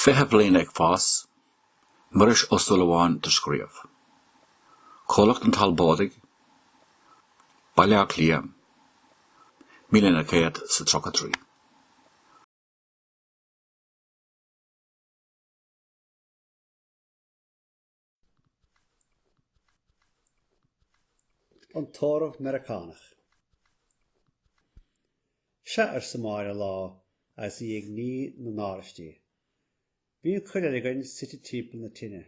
Fiche Bliain ag Fás, Muiris Ó Súilleabháin do scríobh. Comhlucht an Talbóidigh, Baile Átha Cliath, Míle Naoi gCéad is a Tríocha Trí. An tórramh Meiriceánach. Sea, arsa Máire lá agus í ag ní na n-áraistí. Bhí an chuid eile againn suite timpeall na tine.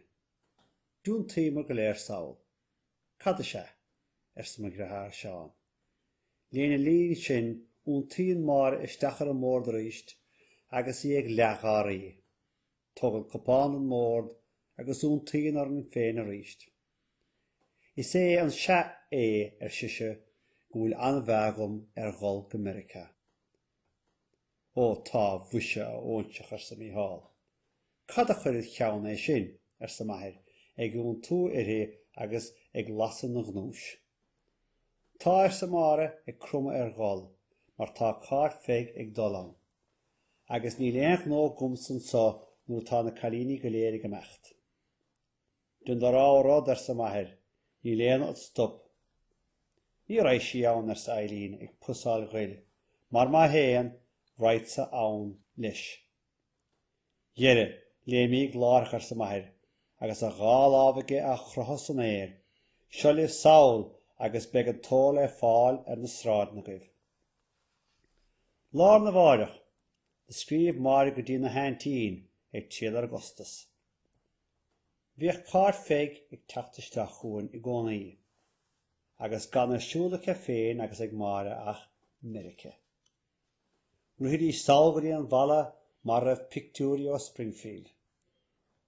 D'iontaíomar go léir sall. Cad is ea? arsa mo dheartháir Seán. Lena linn sin, iontaíonn Máire isteach ar an mbord arís agus í ag leathgháirí. Tógann cupán ón mbord agus iontaíonn orainn féin arís. Is é an sea é, ar sise, go bhfuil an-mheá agam ar dhul go Meirice. Ó, tá, mhuise, a óinseach, arsa Mícheál. Cad a chuir id cheann é sin? arsa m'athair, ag iontú uirthi agus ag lasadh ina ghnúis. Tá, arsa Máire, ag cromadh ar ghol, mar tá Cáit Pheig ag dul ann. agus níl aon ghnó agamsa anseo nuair atá na cailíní go léir ag imeacht. Dein do rogha rud, arsa m'athair, níl éinne ad stop. Ní raghaidh sí ann, arsa Eibhlín, ag pusaíl ghoil, mar má théann, raghadsa ann leis. Dhera, léimíg láithreach, arsa m'athair, agus a dhá lámh aige á chroitheadh san aer, seo libh sall agus beidh an t-ór le fáil ar na sráideanna agaibh. Lá arna mháireach, do scríobh Máire go dtína haintín ag triall ar an gcostas. Bhíodh Cáit Pheig ag teacht isteach chugainn i gcónaí, agus gan ar siúl aici féin agus ag Máire ach Meirice. Rithidís sall go dtí an bhfalla mar a raibh pictiúirí ó Springfield.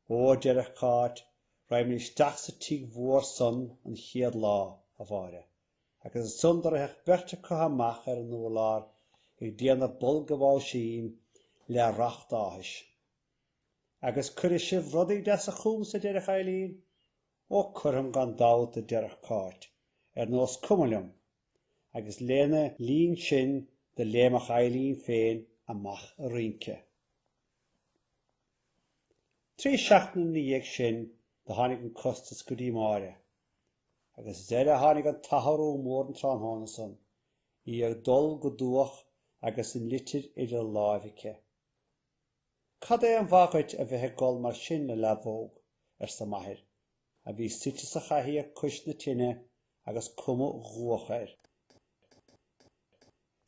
Ó, a deireadh Cáit, raghaimid isteach sa tigh mhór san an chéad lá, a Mháire. Agus ansan do ritheadh an bheirt acu amach ar an urlár ag déanamh bulla báisín le racht áthais. Agus cuirfidh sibh rudaí deasa chugamsa a deireadh Eibhlín. Ó cuirfeam gan dabht a deireadh Cáit, ar nós cuma liom. Agus lena linn sin do léimfeadh Eibhlín féin amach ag rince. Trí seachtaine ina dhiaidh sin do tháinig an costas go dtí Máire. Agus deireadh a tháinig an t-athrú mór an tráthnóna san, í ag gol go dubhach agus an litir idir lámha aici. Cad é an mhaith dhuit a bheith ag gol mar sin, a leadhbóg, arsa m'athair, a bhí suite sa chathaoir cois na tine agus cuma dhubhach air.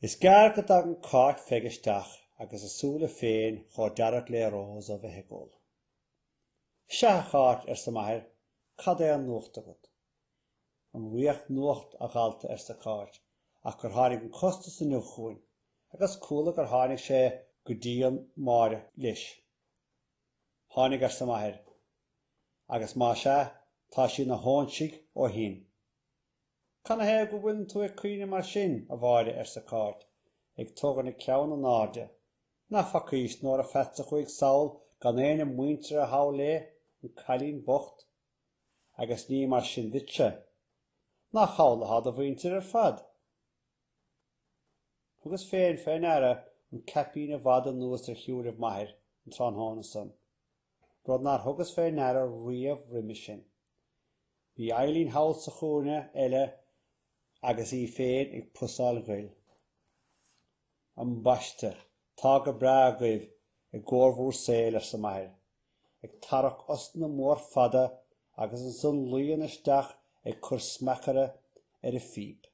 Is gearr go dtagann Cáit Pheig isteach agus a súile féin chomh dearg le rós ó bheith ag gol. Sea, a Cháit, arsa m'athair, cad é an nuacht agat? An riach nuacht, a dhalta, arsa Cáit, ach gur tháinig an costas inniu chugainn, agus chuala gur tháinig sé go dtí Máire leis. Tháinig, arsa m'athair, agus más ea, tá sí ina hóinsigh ó shin. Canathaobh go bhfuileann tú ag caoineadh mar sin, a Mháire, arsa Cáit, ag tógaint a ceann in airde. Nach bhfacaís Nóra Pheats a chuaigh sall gan éinne muinteartha thall léi, an cailín bocht. Agus ní mar sin duitse. Nach thall athá do mhuintir ar fad? Thugas féin fé ndeara an caipín i bhfad anuas ar shúilibh m'athair an tráthnóna san. rud nár thugas fé ndeara riamh roimis sin. Bhí Eibhlín thall sa chúinne eile agus í féin ag pusaíl ghoil. Am baiste, tá go breá agaibh i gcomhair bhúr saoil, arsa m'athair, ag tarrac osna mór fada agus ansan luíonn isteach ag cur smeacaire ar a phíp.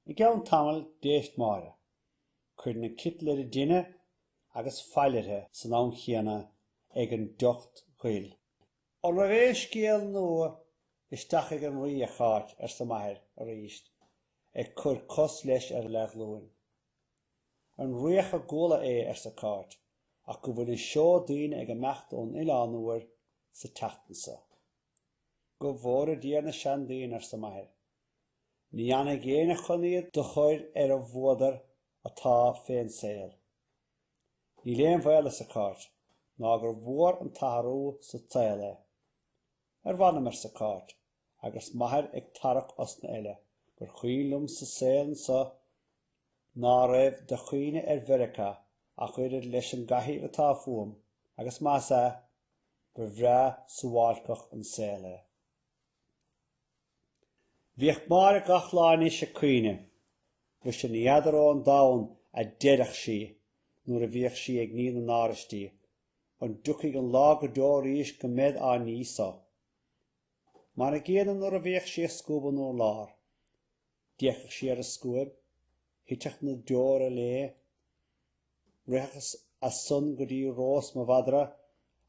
I gceann tamaill d'éist Máire. Cuireann an citeal ar an dtine agus fail uirthi san am chéanna ag an dtocht ghoil. An raibh aon scéal nua isteach ag an rí, a Cháit? arsa m'athair arís, ag cur cos leis ar a leathghlúin. An riach a gcuala é, arsa Cáit, ach go bhfuil an seó daoine ag imeacht don Oileán Úr sa tseachtain so. Go bhfóire Dia ar na seandaoine, arsa m'athair, Ní fhanfaidh éinne chun iad do chur ar an bhfuadar atá fén saol. Níl aon bhaol arsa Cáit ná gur mhór an t-athrú sa tsaol é. Ar mh'anam arsa Cáit agus m'athair ag tarrac osna eile gur chuimhin liomsa saol anso ná raibh de chuimhne ar Mheiriceá ach oiread leis an gcathaoir atá fúm agus más ea, ba bhreá suáilceach an saol é. Bhíodh Máire gach lá anois ag caoineadh. Mhuise ní fheadar ón domhan a deireadh sí nuair a bhíodh sí ag ní na n-áraistí, an dtiocfaidh an lá go deo arís go mbead á ní so? Mar an gcéanna nuair a bhíodh sí ag scuabadh an urlár. D'fhéachadh sí ar an scuaib, thiteadh na deora léi, Ritheadh sí ansan go dtí Rós mo mhadra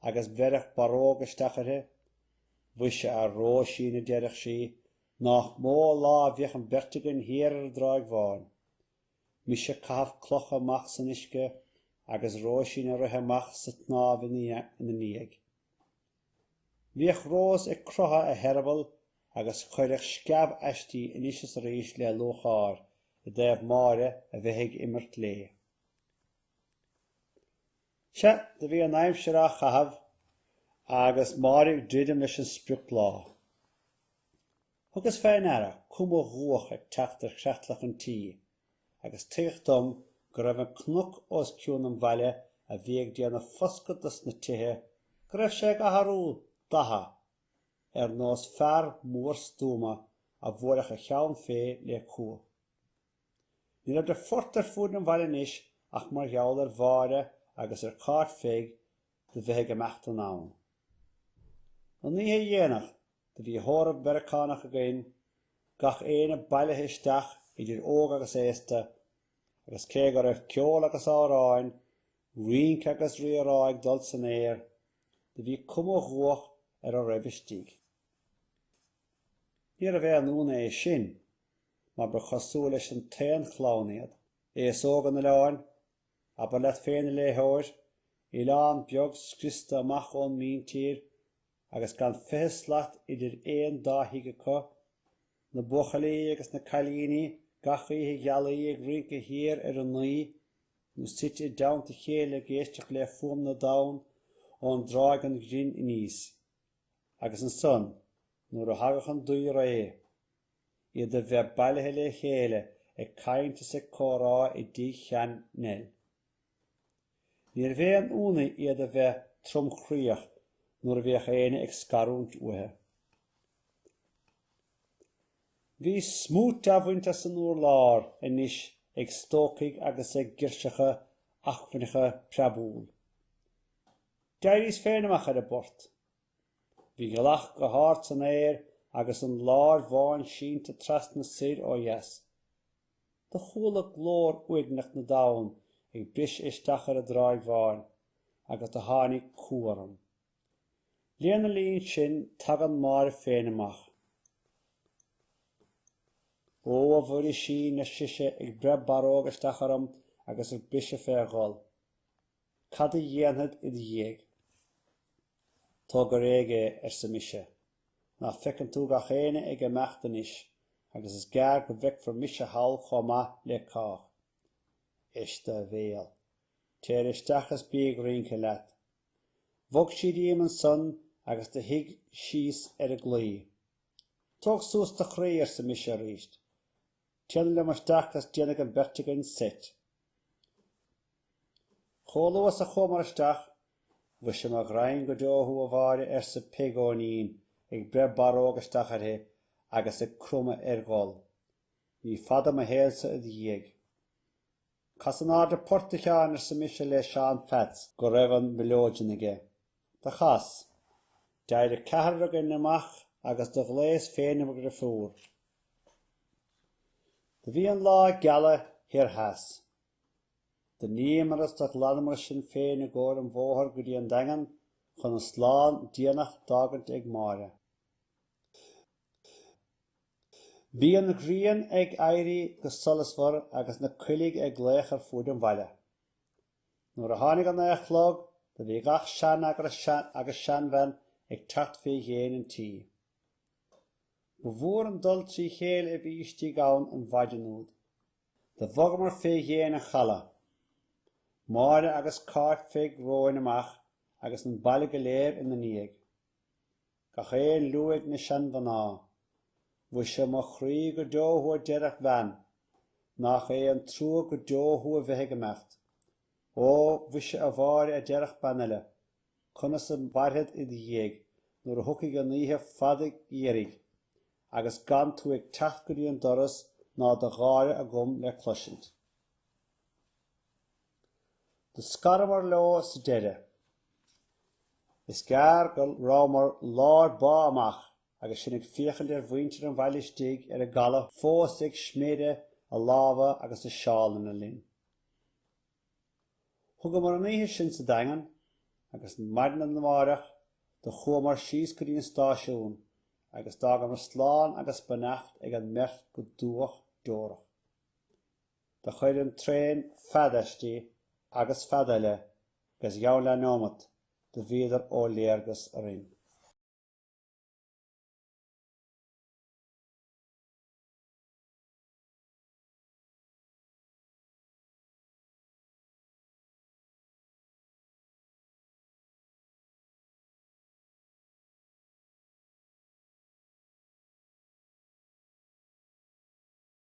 agus bheireadh barróg isteach uirthi. Mhuise, a Róisín, a deireadh sí, nách mó lá a bheadh an bheirt againn thiar ar an dTráigh Bháin. Mise ag caitheamh cloch amach san uisce agus Róisín ag rith amach sa tsnámh ina ndiaidh. Bhíodh Rós ag crothadh a heireabaill agus chuireadh sceamh aisti anois is arís le lúcháir i dtaobh Máire a bheith ag imirt léi. Sea, do bhí an aimsir á chaitheamh agus Máire ag druidim leis an sprioclá. Thugas fé ndeara cuma dhubhach ag teacht ar chreatlach an tí agus tuigeadh dom go raibh an cnoc os cionn an bhaile a bhí ag déanamh foscadh dos na tithe, go raibh sé ag athrú datha ar nós fear mór stuama a bhuailfeadh a cheann fé le cumha. Ní raibh de phort ar fuaid an bhaile anois ach mar gheall ar Mháire agus ar Cáit Pheig do bheith ag imeacht anonn. An oíche dhéanach do bhí tórramh Meiriceánach againn, gach éinne bailithe isteach idir óg agus aosta, agus cé go raibh ceol agus amhráin, rince agus rírá ag dul san aer, do bhí cuma dhubhach ar a raibh istigh. Níorbh aon ionadh é sin mar ba chosúil leis an t-aon chlann iad, aos óg an oileáin, Abair leat féin, a léitheoir, oileán beag scriosta amach ón míntír agus gan fiche slat idir aon dá thigh acu, na buachaillí agus na cailíní gach oíche ghealaí ag rince thiar ar an nDuimhe, nó suite i dteannta a chéile ag éisteacht le fuaim na dtonn ón dTráigh an Ghrin aníos. Agus ansan, nuair a thagadh an duibhré. iad a bheith bailithe le chéile ag caint is ag comhrá i dtigh shean-Neil. Níorbh aon ionadh iad a bheith tromchroíoch nuair a bhíodh éinne ag scarúint uathu. Bhí smúit á bhaint as an urlár anois ag stócaigh agus ag girseacha acmhainneacha preabúil. D'éiríos féin amach ar an bport Bhí gealach go hard san aer agus an láir bháin sínte trasna soir ó dheas. Do chuala glór uaigneach na dtonn ag briseadh isteach ar an dtráigh bháin agus do tháinig cumha orm. Lena línn sin tagann Máire féin amach. Ó, a Mhuirisín, ar sise ag breith barróg isteach orm agus ag briseadh fé ghol. Cad a dhéanfad id dhiaidh? Tóg go réidh é, arsa mise. Ná feiceann tú gach éinne ag imeacht anois agus is gearr go bhfeicfir mise thall chomh maith le cách. Éist do bhéal. Téir isteach is bí ag rince leat. Bhog sí díom ansan agus do shuigh síos ar an gclaí. Tóg suas do chroí, arsa mise arís. Téanam liom isteach agus déanfaidh an bheirt againn seit. Chomh luath is a chuamar isteach, Mhuise mo ghraidhin go deo thú a Mháire, arsa Peig Eoinín ag breith barróg isteach uirthi agus ag cromadh ar ghol. Ní fada mo shaolsa id dhiaidh. Cas in airde port a Sheáin arsa mise le Seán Pheats go raibh an mileoidean aige. Do chas. D'éirigh ceathrar againn amach agus do ghlaos féin ar mo dhriofúr. Do bhí an lá ag gealadh thoir theas. Do níomair is do ghlanamair sinn féin i gcomhair an bhóthair go dtí an Daingean chun an slán déanach d'fhágaint ag Máire. Bhí an ghrian ag éirí go solasmhar agus na coiligh ag glaoch ar fuaid an bhaile. Nuair a tháinig a naoi a chlog do bhí gach seanfhear agus seanbhean ag teacht fé dhéin an tí. Ba mhór an dul trí chéile a bhí istigh ann an mhaidean úd. Do bhogamair fé dhéin an chaladh. Máire agus Cáit Pheig romhainn amach agus an baile go léir ina ndiaidh. Gach aon liú ag na seanmhná. Mhuise, mo chroí go deo thú a deireadh bean. Nach é an trua go deo thú a bheith ag imeacht. Ó, mhuise a Mháire a deireadh bean eile. Conas a mhairfead id dhiaidh nuair a thiocfaidh an oíche fhada gheimhridh agus gan tú ag teacht go dtí an doras ná do gháire agam le cloisint. Do scaramar leo sa deireadh. Is gearr go rabhamar lár bá amach agus sinn ag féachaint ar mhuintir an bhaile istigh ar an gcaladh fós ag sméideadh a lámha agus a seálanna linn. Thugamar an oíche sin sa Daingean agus maidean amáireach do chuamar síos go dtí an stáisiún agus d'fhágamar slán agus beannacht ag an mbeirt go dúch deorach. Do chuir an traen fead aisti agus fead eile agus i gceann leathneomat do bhíodar ó léargas orainn.